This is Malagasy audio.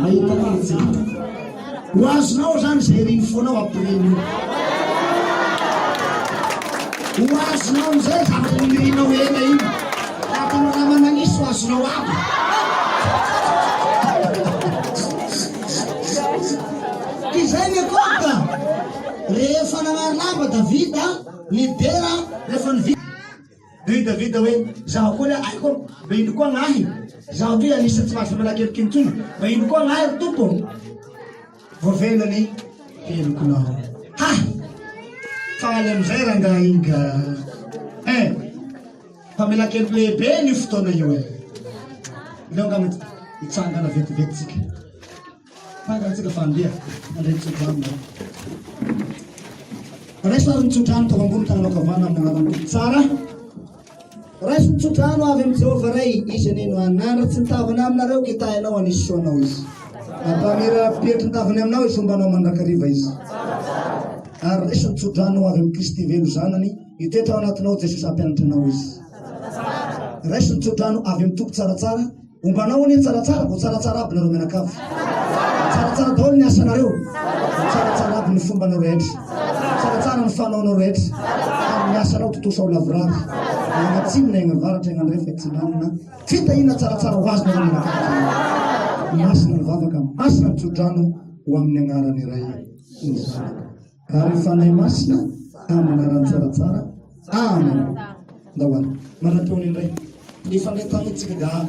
Mahita fihetsehana. Ho azonao izany izay iry ny fonao hampiriny io. Ho azonao amin'izay zavatra nirinao ela iny. Vatana raha manalisa ho azonao aby. Ka izay ny ekôta. Rehefa nanary lamba Davida, nidera, rehefa nivita. Ry Davida hoe, Izaho koa ilay aiko, mba ino koa ahy? Izaho toy anisan'ny tsy mahazo vola kelikely intsony, mba ino koa ahy ry Tompo? Voavela ny helokinao. Ha! Faly amin'izay rangahy iny ka. Eh, famelan-keloky lehibe ny fotoana io e. Ileo angamba hitsangana vetivety tsika. Tahaka ny tsika fa andeha handray ny tsodrano nareo. Raiso ary ny tsodrano tao ambony tananao ankavanana amin'ny anaran'ny Tompo tsara. Raiso ny tsodrano avy amin'ny Jehovah Ray, izy anie no hanandratra tsy ny tavany aminareo, kitahy anao any soanao izy. Ampamira petro ny tavany aminao izy, hombanao mandrakariva izy. Ary raiso ny tsodrano avy amin'ny Kristy velo zanany, hitoetra ao anatinao Jesosy hampianatra anao izy. Raiso ny tsodrano avy amin'ny Tompo tsaratsara, Ombanao anie tsaratsara vao tsaratsara aby nareo mianakavy tsaratsara daholo ny asanareo tsaratsara aby ny fombanao rehetra tsaratsara ny fanaonao rehetra ary ny asanao tontosa ao lavorary agnatsinina agnavaratra agnandrefa atsinanana fitahina tsaratsara ho azy nareo mianakavy masina ny vavaka masina ny tsodrano ho amin'ny agnaran'ny ray ny zanaka Ary Fanahy Masina amin'ny anarany tsaratsara. Amen. Ndao ary. Maraton indray. Mifandray tamintsika dahalo.